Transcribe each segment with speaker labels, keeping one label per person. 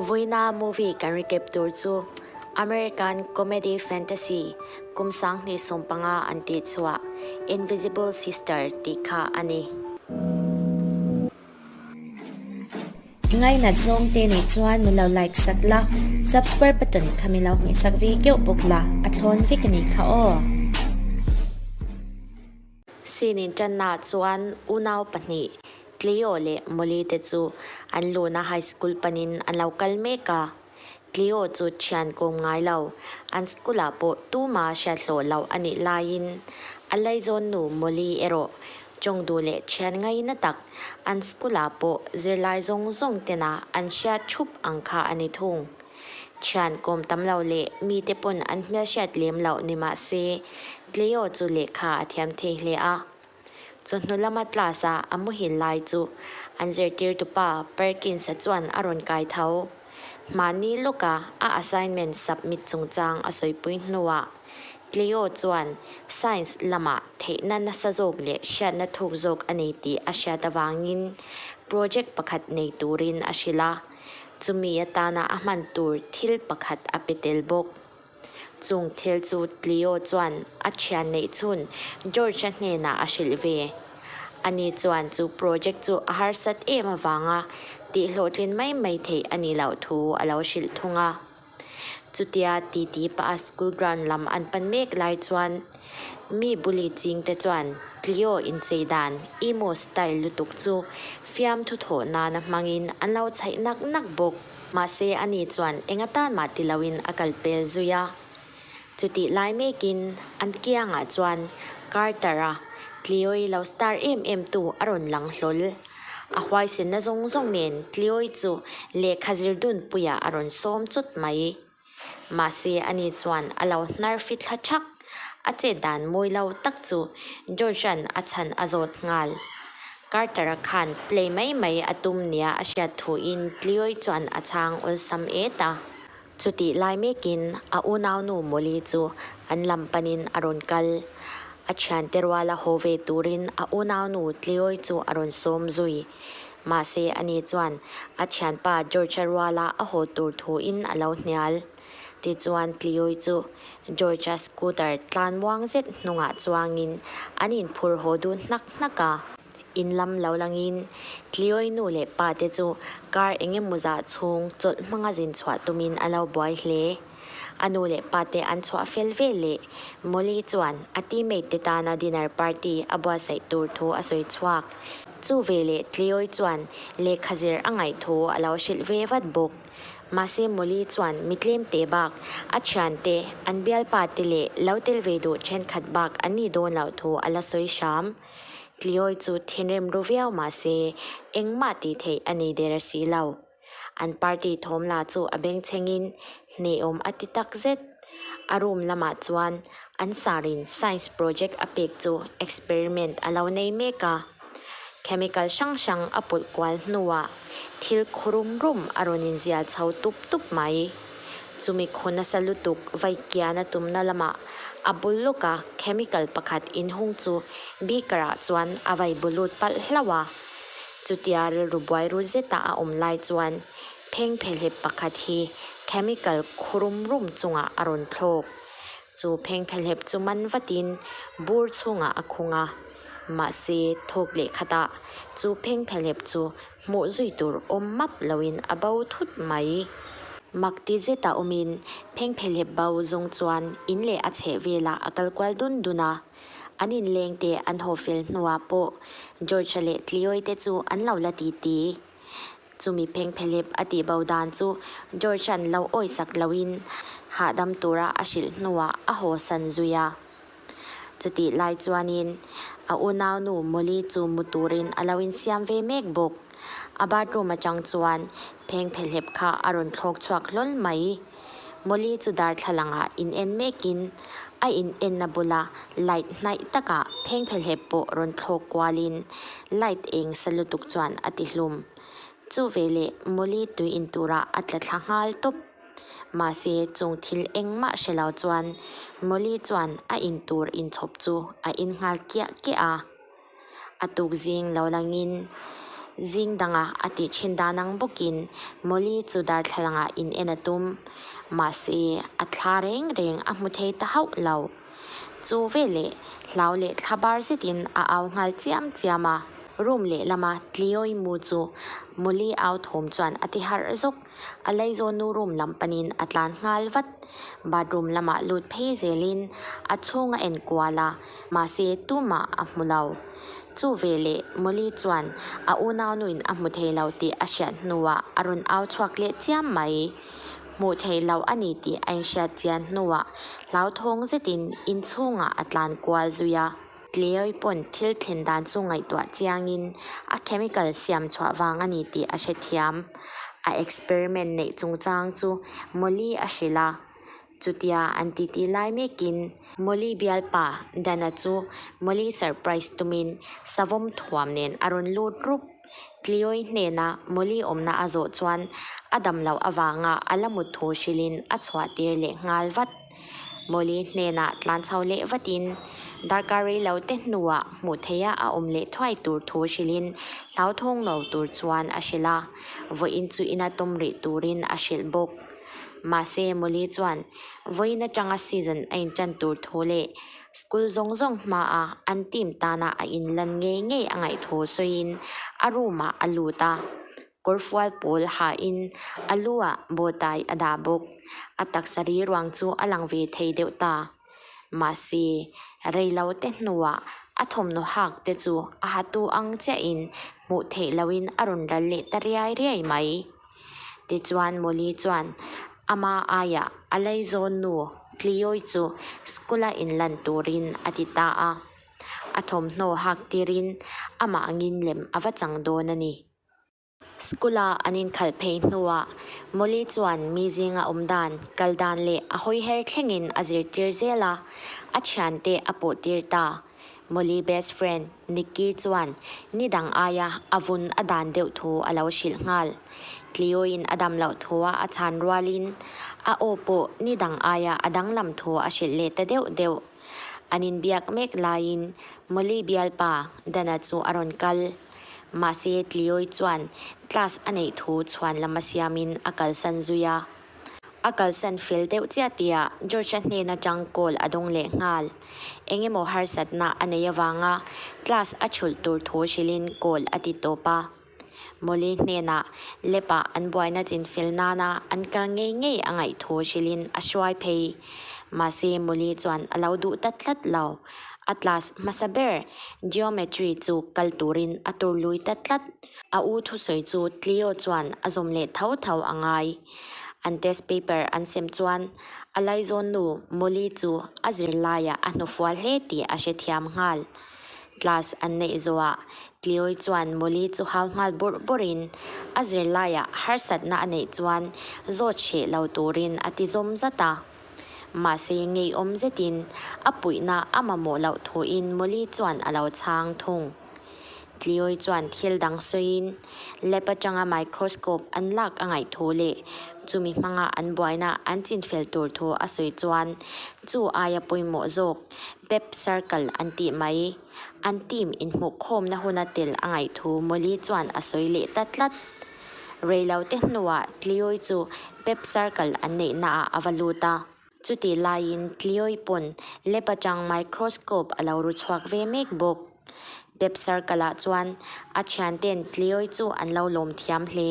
Speaker 1: Voina movie kan ri kep tur chu American comedy fantasy kum sang hnih sawm panga an tih chhuah Invisible Sister tih kha a ni.
Speaker 2: I ngainat zawngte nih chuan min lo like sak la, subscribe button kha min lo hmih sak ve keuh bawk la, a thlawn vek a ni kha aw.
Speaker 1: Scene in tanah chuan unau pahnih Cleo leh Molly te chu an luna high school panin an lo kal mek a. Cleo chu thian kawm ngai lo, an school ah pawh tuma hriathlawh loh a nih laiin a laizawn nu Molly erawh chawng duh leh thian ngai natak an school ah pawh zirlai zawng zawng tena an hriat thup ang kha a ni thung. Thian kawm tam lo leh mite pawn an hmelhriat lem lo ni mah se, Cleo chu lehkha a thiam thei hle a. Chu hnu lama class-a a muhil lai chu an zirtirtu pa Perkins-a chuan a rawn kai tho. Mahni lawka a assignment submit chungchang a sawipui hnuah Cleo chuan Science lama theihna nasa zawk leh hriatna thuk zawk a nei tih a hriat avangin project pakhat nei turin a hrilh a. Chumi atana a hman tur thil pakhat a pe tel bawk. Chung thil chu Cleo chuan a thian neih chhun George-a hnenah a hrilh ve. Ani chuan chu project chu a harsat em avanga tihhlawhtlin mai mai theih a nih loh thu a lo hrilh thung a. Chutia ti ti paha school ground lam an pan mek lai chuan mi bully ching te chuan Tlio inchei dan emo style lutuk chu fiam thu thawh nan a hmangin an lo chhaih nak nak bawk. Mahse ani chuan enga tan mah ti loin a kal pel zui a. Chutih lai mekin an kiangah chuan Carter-a Tlioi lo star em em tu a rawn lang hlawl. A huaisenna zawng zawng nen Tlioi chu lehkha zirdunpuiah a rawn sawm chut mai. Mahse ani chuan a lo hnar fi thla thak. A chet dan mawi lo tak chu George-a'n a chhan a zawt nghal. Carter-a khan play mai mai a tum nia a hriat thuin Tlioi chuan a chhang awlsam et a. Chutih lai mekin a unaunu Molly chu an lam panin a rawn kal. A thiante ruala haw ve turin a unaunu Tleoi chu a rawn sawm zui. Mahse a ni chuan a thianpa George-a ruala a haw tur thuin a lo hnial. Tichuan Tleoi chu George-a scooter tlan muang zet hnungah chuangin an inphur haw dun hnak hnak a. In lam lo langin Tlioi nu leh pate chu kar eng emaw zah chhung chawlh hmanga zin chhuah tumin a lo buai hle. A nu leh pate an chhuah fel vel leh Molly chuan a teammate te tana dinner party a buatsaih tur thu a sawi chhuak. Chu veleh Tlioi chuan lehkha zir a ngaih thu a lo hrilh ve vat bawk. Mahse Molly chuan mi tlem teh bak, a thian te, an bialpa te leh lo tel ve duh thenkhat bak an ni dawn loh thu a la sawi hram. Tliawi chu thinrim ru viau mah se, engmah tih theih a ni der a si lo. An party thawm la chu a bengchhengin hnehawm a ti tak zet. A room lamah chuan an sarin science project a pek chu experiment a lo nei mek a. Chemical hrang hrang a pawlh kual hnuah thil khurum rum a rawn inzial chho tup tup mai. Chumi khunasa lutuk vaikiana tumna lamah a bul lawka chemical pakhat inhung chu beaker ah chuan a vai bu lut palh hlauh a. Chutia rilru buairu zeta a awm lai chuan pheng phe hlep pakhat hi chemical khu rum rum chungah a rawn thlawk. Chu pheng phe hlep chu man vatin bur chhungah a khung a. Mahse thawk leh khatah chu pheng phe hlep chu hmuh zui tur awm map loin a bo thut mai. Mak ti zeta awmin pheng phelep bo zawng chuan in leh a chheh velah a kal kual dun dun a. An inleng te an haw fel hnuah pawh George-a leh Tlioi-te chu an lo la ti ti. Chumi pheng phelep a tih bo dan chu George-a'n lo awisak loin hahdam tura a hrilh hnuah a haw san zui a. Chutih lai chuanin a unaunu Molly chu mu turin a lo insiam ve mek bawk. A bathroom atang chuan pheng phe hlep kha a rawn thlawk chhuak hlawl mai. Molly chu darthlalangah in en mekin a in enna bula light hnaih takah pheng phe hlep pawh rawn thlawk kualin light eng sa lutuk chuan a tihlum. Chu veleh Molly tui in turah a tla thla nghal tawp. Mahse, chung thil eng mah hre lo chuan Molly chuan a in tur in chhawp chu a in nghal kiah kiah a. A tuk zing lo langin zing dangah a tih thin dan ang bawkin Molly chu darthlalangah in en a tum. Mahse, a thla reng reng a hmu thei ta hauh lo. Chu veleh hlau leh thla bar zetin a au nghal chiam chiam a. Room lehlama Cleo-i mu chu Molly au thum chuan a ti harh zawk. A lei zawn nu room lam panin a tlan nghal vat. Bathroom lamah lut phei zelin a chhung a en kual a, mahse tumah a hmu lo. Chu ve leh Molly chuan a unau nuin a hmu thei lo tih a hriat hnuah a rawn au chhuak leh chiam mai. Hmuh theih loh a ni tih a inhriat chian hnuah hlauthawng zetin inchhungah a tlan kual zui a. Tleoi pawn thil thlen dan chu ngaihtuah chiangin a chemical siam chhuah vang a ni tih a hrethiam. A experiment neih chungchang chu Molly a hrilh a, chutia an titi lai mekin. Molly bialpa Dana chu Molly surprise tumin savawm thuam nen a rawn lut rup. Tlioi hnena Molly awmna a zawh chuan a dam loh avanga a la mut thu hrilhin a chhuah tir leh nghal vat. Molly hnenah tlan chho leh vatin darkar rei lo te hnuah hmuh theia a awm leh thuai tur thu hrilhin hlauthawng lo tur chuan a hrilh a, vawiin chu ina tum rih turin a hrilh bawk. Mahse Molly chuan vawiin atanga season a intan tur thu leh School zawng zawng hmaa an team tana a inlan ngei ngei a ngaihthu sawiin a room ah a lut a, kawrfual pawl ha in a lu ah bawtai a dah bawk. A taksa rilruang chu a lang ve thei deuh ta. Mahse, reilo te hnuah a thawmhnaw hak te chu a hatu ang chiah in hmuh theih lo in a rawn ral leh ta riai riai mai. Tichuan Molly chuan ama aia a lei zawn nu Cleoy chu school-a in lan turin a ti ta a. A thawmhnaw hak tirin amah ngin lem a va chang dawn a ni. School-a an inkhal phei hnuah Molly chuan mi zing a awm dan, kal dan leh a hawi her thlengin a zirtir zel a. A thiante a pawhtir ta. Molly best friend. Nicky chuan ni dang aia a vun a dan deuh thu a lo hrilh nghal. Tlioin a dam loh thua a chhan rualin a aw pawh ni dang aia a danglam thu a hrilh leh ta deuh deuh. An inbiak mek laiin Molly bialpa Dana chu a rawn kal. Mahse Tlioi chuan class a neih thu chhuan lam a siamin a kalsan zui a. A kalsan fel deuh chiah tia George-a hnena chang call a dawng leh nghal. Eng emaw harsatna a nei avanga class a chhulh tur thu hrilhin call a ti tawp a. Molly hnenah lab-a an buaina chin fel nana an kal ngei ngei a ngaih thu hrilhin a hruai phei. Mahse Molly chuan a lo duh ta tlat lo. Atlas hmasa ber Geometry chu kal turin a tur lui ta tlat. A u thusawi chu Clio chuan a zawm leh tho tho a ngai. An test paper an sem chuan a laizawn nu Molly chu a zirlaiah a hnufual hle tih a hre thiam nghal. Class an neih zawhah Clioi chuan Molly chu hau nghal burh burhin a zirlaiah harsatna a neih chuan zawt hreh lo turin a ti zawm zat a. Mahse ngeiawm zetin a puihna a mamawh loh thuin Molly chuan a lo chhang thung. Tliawi chuan thil dang sawiin lab atanga microscope an lak a ngaih thu leh chumi hmanga an buaina an chinfel tur thu a sawi chuan chu aia pawimawh zawk Pep Circle an tih mai. An team inhmuhkhawmna huna tel a ngaih thu Molly chuan a sawi leh ta tlat. Reilote hnuah Tlioi chu Pep Circle an neihnaah a va lut a, chutih laiin Tlioi pawn lab atang microscope a lo ru chhuak ve mek bawk. Pep Circle ah chuan a thiante'n Tlioi chu an lo lawm thiam hle,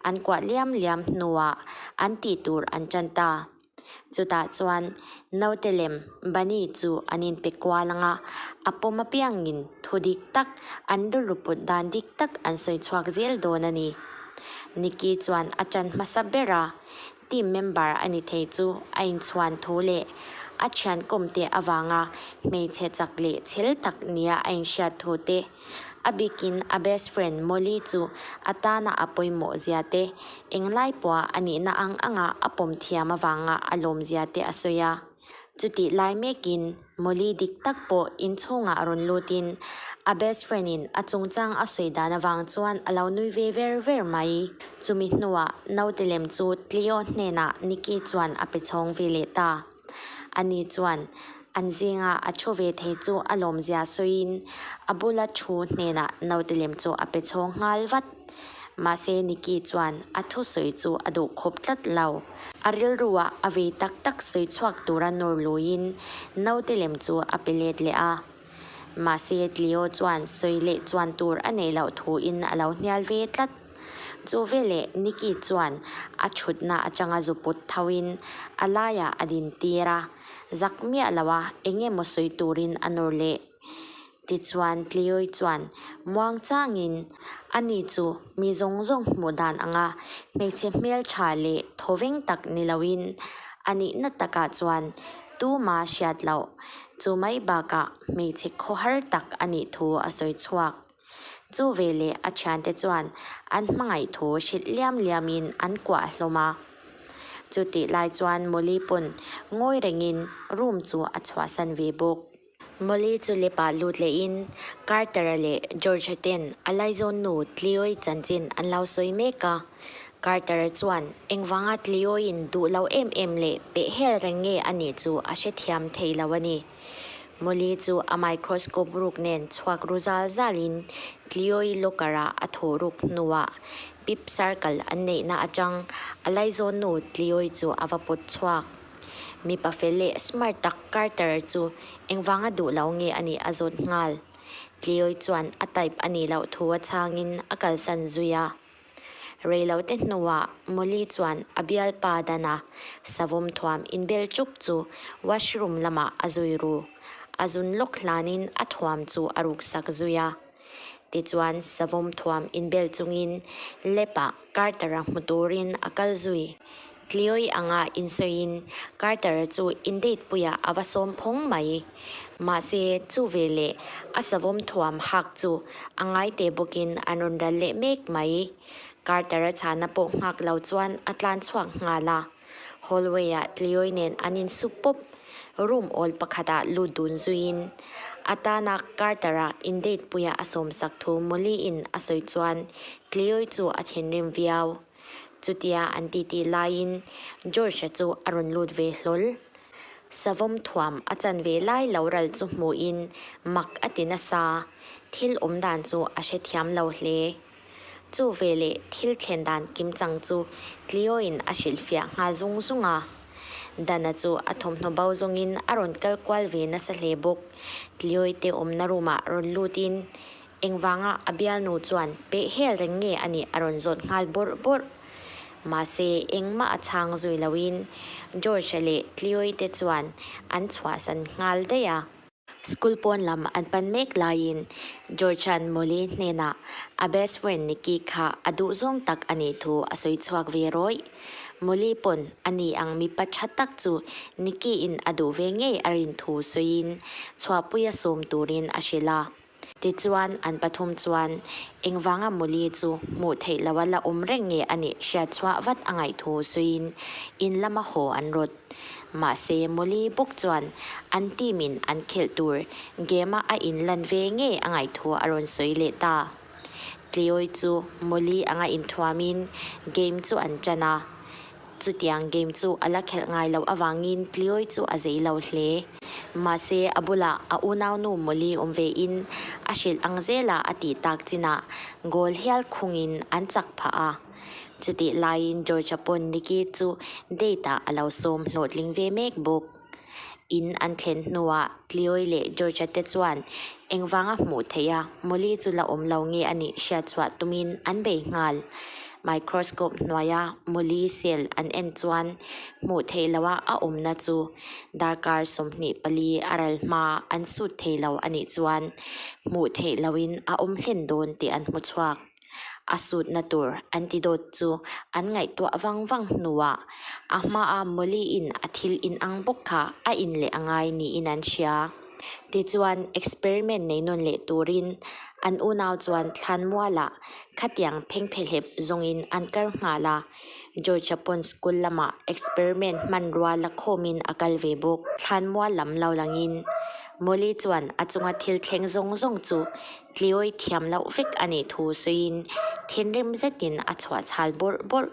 Speaker 1: an kuah liam liam hnuah an tih tur an tan ta. Chutah chuan naute lem Bani chu an inpe kual ang a, a pawm apiangin thu dik tak, an rilru put dan dik tak an sawi chhuak zel dawn a ni. Nicky chuan a ṭan hmasa ber a, team member a ni thei chu a inchhuan thu leh a ṭhiankawmte avanga hmeichhe chak leh chhel tak nia a inhriat thu te, A bikin a best friend Molly chu a tana a pawimawh zia te, eng lai pawha a nihna ang anga a pawm thiam avanga a lawm zia te a sawi a. Chutih lai mekin Molly dik tak pawh inchhungah rawn lutin a best friend in a chungchang a sawi dan avang chuan a lo nui ve ver ver mai. Chumi hnuah naute lem chu Cleo hnenah Nicky chuan a pe chhawng ve leh ta. Ani chuan an zinga a thu ve thei chu a lawmzia sawiin a bula thu hnenah naute lem chu a pe chhawng nghal vat. Mahse Nicky chuan a thu sawi chu a duh khup tlat lo. A rilruah a vei tak tak sawi chhuak tura nawr luiin naute lem chu a pe let leh a. Mahse, Tlio chuan sawi leh chuan tur a neih loh thuin a lo hnial ve tlat. Chu veleh Nicky chuan a thutna atanga zu put thoin a laiah a din tir a, zak miah lo a eng emaw sawi turin a nawr leh. Tichuan, Tlioi chuan muang changin, A ni chu mi zawng zawng hmuh dan anga hmeichhe hmeltha leh thawveng tak ni loin a nihna takah chuan Tuma hriat loh, chu mai bakah hmeichhe khaw har tak a nih thu a sawi chhuak. Chu ve leh a thiante chuan an hmangaih thu hrilh liam liamin an kuah hlawm a. Chutih lai chuan Molly pawn ngawi rengin room chu a chhuahsan ve bawk. Molly chu lepa lut lehin Carter-a leh George-a ten a laizawn nu Cleo-i chanchin an lo sawi mek a. Carter-a chuan engvanga Cleo-in duh lo em em leh pehhel reng nge a nih chu a hrethiam thei lo a ni. Molly chu a microscope ruk nen chhuak ru zal zalin Cleo-i locker-a a thu ruk hnuah pip circle an neihna atang a laizawn nu Cleo-i chu a va put chhuak. Mipa fel leh smart tak Carter chu engvanga duh lo nge a nih a zawt nghal. Tliawi chuan a type a nih loh thu a chhangin a kalsan zui a. Rei lo te hnuah Molly chuan a bial pa Dana savawm thuam inbel chuk chu washroom lamah a zui ru. A zun lawk hlanin a thuam chu a ruksak zui a. Tichuan, savawm thuam inbel chungin Lap-a Carter-a hmu turin a kal zui. Tlioi anga insawiin Carter chu indeitpuia a va sawm phawng mai. Mahse, chu veleh a savawm thuam hak chu a ngaite bawkin an rawn ral leh mek mai. Carter-a chhana pawh nghak lo chuan a tlan chhuak nghal a. Hallway-ah Tlioi nen an in sup pawp. Room awl pakhatah lut dun zuiin atana Carter-a in date puiah a sawm sak thu Molly-in a sawi chuan Tlioi chu a thinrim viau. Chutia an titi laiin George-a chu a rawn lut ve hlawl. Savawm thuam a chan ve lai lo ral chu hmuhin mak a ti nasa. Thil awm dan chu a hrethiam lo hle. Chu ve leh thil thlen dan kim chang chu tlio in a hrilh fiah nghal zung zung a. Dana chu a thawmhnaw bo zawng in a rawn kal kual ve nasa hle bawk. Tlioi te awmna room ah rawn lut in engvang a a bialnu chuan peh hel reng nge a nih a rawn zawt nghal bawrh bawrh. Mahse engmah a chhang zui lo in George leh Tlioi te chuan an chhuahsan nghal daih a. School pawn lam an pan mek laiin Georgian Molly hnenah a best friend Nikki kha a duhzawng tak a nih thu a sawi chhuak ve rawih. Molly pawn a ni ang mipa tha tak chu Nikki-in a duh ve ngei a rin thu sawiin chhuahpui a sawm turin a hrilh a. Tichuan an pathum chuan, Engvanga Muli chu hmuh theih lo a, la awm reng nge a nih hriat chhuah vat a ngaih thu suiin in lama haw an rawt. Mahse, Muli bawk chuan an team in an khelh tur game a a in lan ve nge a ngaih thu a rawn sawi leh ta. Tleawi chu Muli anga inthuamin game chu an chan a. Chutiang game chu a la khelh ngai loh avangin Tlioi chu a zei lo hle. Mahse, a bulah a unaunu Molly awm ve in a hrilh ang zel a a tih tak chin ah goal hial khung in an chak phah a. Chutih laiin George-a pawn Nikki chu date ah a lo sawm hlawhtling ve mek bawk. In an thlen hnuah Tlioi leh Georgia-te chuan engvanga hmuh theih a, Molly chu la awm lo nge a nih hriat chhuah tumin an bei nghal. Microscope hnuaia Molly cell an en chuan hmuh theih loha a awmna chu darkar sawmhnih pali a ral hma an sut thei lo a nih chuan hmuh theih loin a awm hlen dawn tih an hmu chhuak. a sutna tur antidote chu an ngaihtuah vang vang hnuah a hmaa Molly-in a thil in ang bawk kha a in leh a ngai niin an hria. Tichuan, experiment nei nawn leh turin an unau chuan thlanmuala khatiang phengphehlep zawngin an kal nghal a, Georgia pawn school lama experiment hmanrua la khawmin a kal ve bawk. Thlanmual lam lo langin Molly chuan a chunga thil thleng zawng zawng chu Tliawi thiam loh vek a nih thu sawiin thinrim zetin a chhuah chhal bawrh bawrh.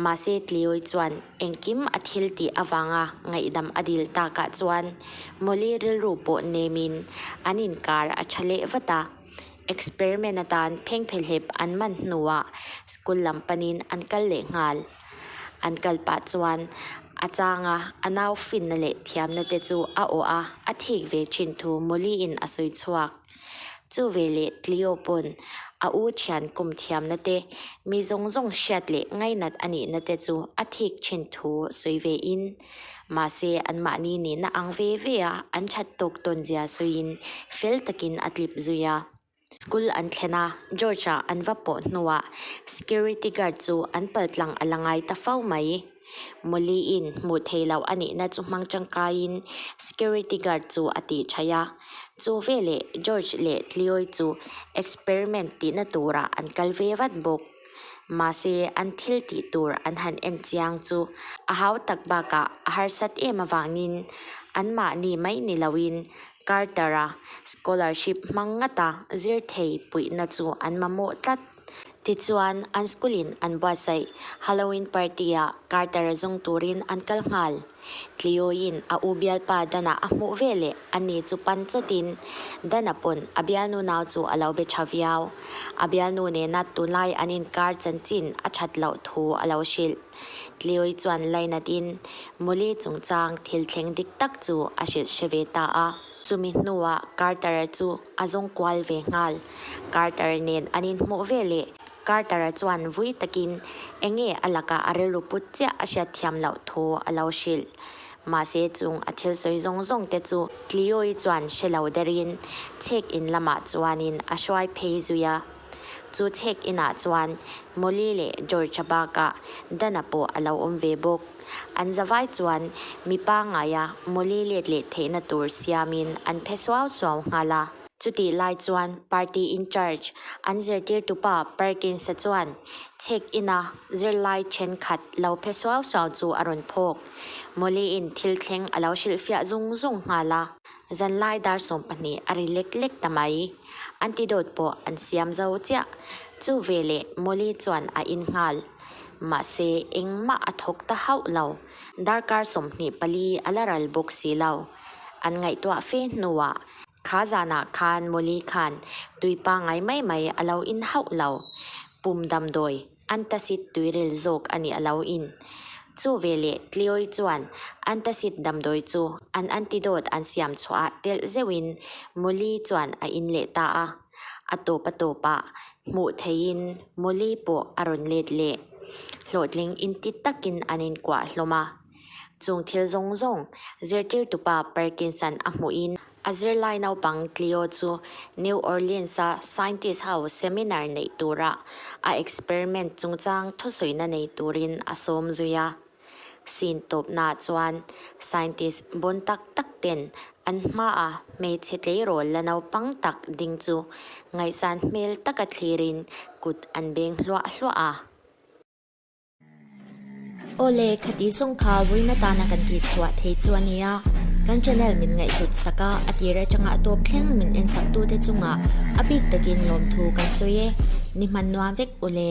Speaker 1: Mahse Tliawi chuan engkim a thil tih avanga ngaihdam a dil takah chuan Molly rilru pawh nemin an inkar a tha leh vat a. Experiment atan phengphe hlep an man hnuah school lam panin an kal leh nghal. An kal pah chuan a changa a nau finna leh thiamna te chu a awh a, a thik ve thin thu Molly-in a sawi chhuak. Chu vei leh Tlio pawn a u thian kum thiamna te, mi zawng zawng hriat leh ngainat a nihna te chu a thik thin thu sawi ve in, mahse anmahni nihna ang ve ve a an that tawk tawn zia sawiin fel takin a tlip zui a. School an thlen a, George-a an va pawh hnuah security guard chu an paltlang a la ngai ta fau mai. Molly-in hmuh theih loh a nihna chu hmang tangkaiin security guard chu a tih ṭhai a. Chu veleh George leh Cleoy chu experiment tihna turah an kal ve vat bawk. Mahse, an thil tih tur an han en chiang chu a hau tak bakah a harsat em avangin anmahni mai ni loin Carter-a scholarship hmang ngata zir thei puihna chu an mamawh tlat. Tichuan, an school-in an buatsaih Halloween party-a Carter a zung turin an kal nghal. Tliuiin a u bialpa Dana a hmuh ve leh a ni chu pan chawtin Dana pawn a bialnu nau chu a lo be tha viau. A bialnu nena tunlai an inkar chanchin a that loh thu a lo hrilh. Tliui chuan lainatin Molly chungchang thil thleng dik tak chu a hrilh hre ve ta a. Chumi hnuah Carter-a chu a zawng kual ve nghal. Carter nen an inhmuh ve le. Carter-a chuan vui takin eng nge a lakah a rilru put chiah a hriat thiam loh thu a lo hrilh. Mahse chung a thil sawi zawng zawng te chu Cleo-i chuan hre lo derin chhek in lamah chuanin a hruai phei zui a. Chu check in ah chuan Molly leh George-a baka Dana pawh a lo awm ve bawk. An zavai chuan mi pangaia Molly let leh theihna tur siamin an phe suau suau nghal a. Chutih lai chuan party in charge an zirtirtupa Perkins-a chuan check in a zirlai thenkhat lo phe suau suau chu a rawn phawk. Molly-in thil thleng a lo hrilhfiah zung zung nghal a. Zanlai dar sawm pahnih a ri lek lek ta mai. Antidote pawh an siam zo chiah. Chu ve leh Molly chuan a in nghal. Mahse engmah a thawk ta hauh lo. Darkar sawmhnih pali a la ral bawk si lo. An ngaihtuah fe hnuah kha zanah khan Molly khan tui pangai mai mai a lo in hauh lo. Pum damdawi. Antacid tuirel zawk a nih a lo in. Chu ve leh Tlioi chuan antacid damdawi chu an antidote an siam chhuahah telh zeuh in Molly chuan a in leh ta a. A tawpa tawpah hmuh theih in Molly pawh a rawn let leh. Hlawhtling in ti tak in an in kuah hlawm a. Chung thil zawng zawng zirtirtupa Parkinson a hmuhin, a zirlai naupang Cleo chu New Orleans-a scientist ho seminar neih tura a experiment chungchang thusawiina nei turin a sawm zui a. Scene tawpnaah chuan scientist bun tak tak ten an hmaa hmeichhe tleirawl la naupang tak ding chu ngaihsan hmel taka thlirin kut an beng hluah hluah a.
Speaker 2: Aw le, kha tih zawng kha vawiin atana kan tih chhuah thei chu a nia. Kan channel min ngaihhlut sak a, a tir atanga a tawp thleng min en saktute chungah a bik takin lawmthu kan sawi e. Ni hman nuam vek u le.